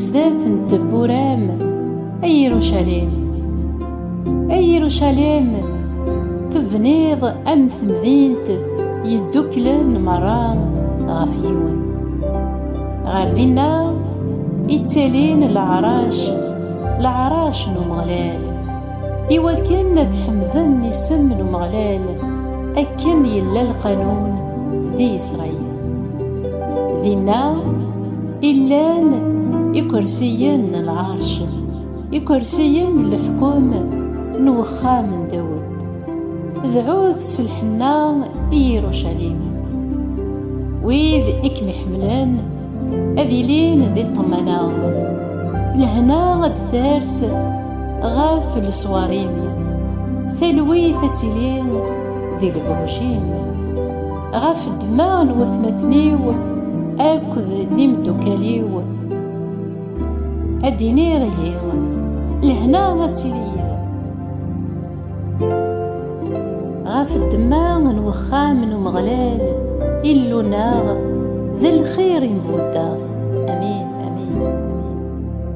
Zdat n tewwura-m, ay Irucalim, ay Irucalim, tebniḍ am temdint yeddukklen merra ɣef yiwen. Ɣer dinna i ttalin leɛrac, leɛrac n Umeɣlal, iwakken ad ḥemden isem n Umeɣlal, akken yella lqanun di Isṛayil. Dinna i llan ikersiyen n lɛerc, ikersiyen n leḥkem n uxxam n Dawed. Dɛut s lḥenna i Yirucalim. Wid i kem-iḥemmlen ad ilin di ṭṭmana, lehna ad d-ters ɣef leṣwar-im, talwit ad tili di lebruj-im. Ɣef ddemma n watmaten-iw akked d imeddukal-iw, ad d-iniɣ ihi, lehna ad tili yid-m. Ɣef ddemma n wexxam n Umeɣlal, Illu-nneɣ, d lxir i m-buddeɣ. Amin, amin, amin.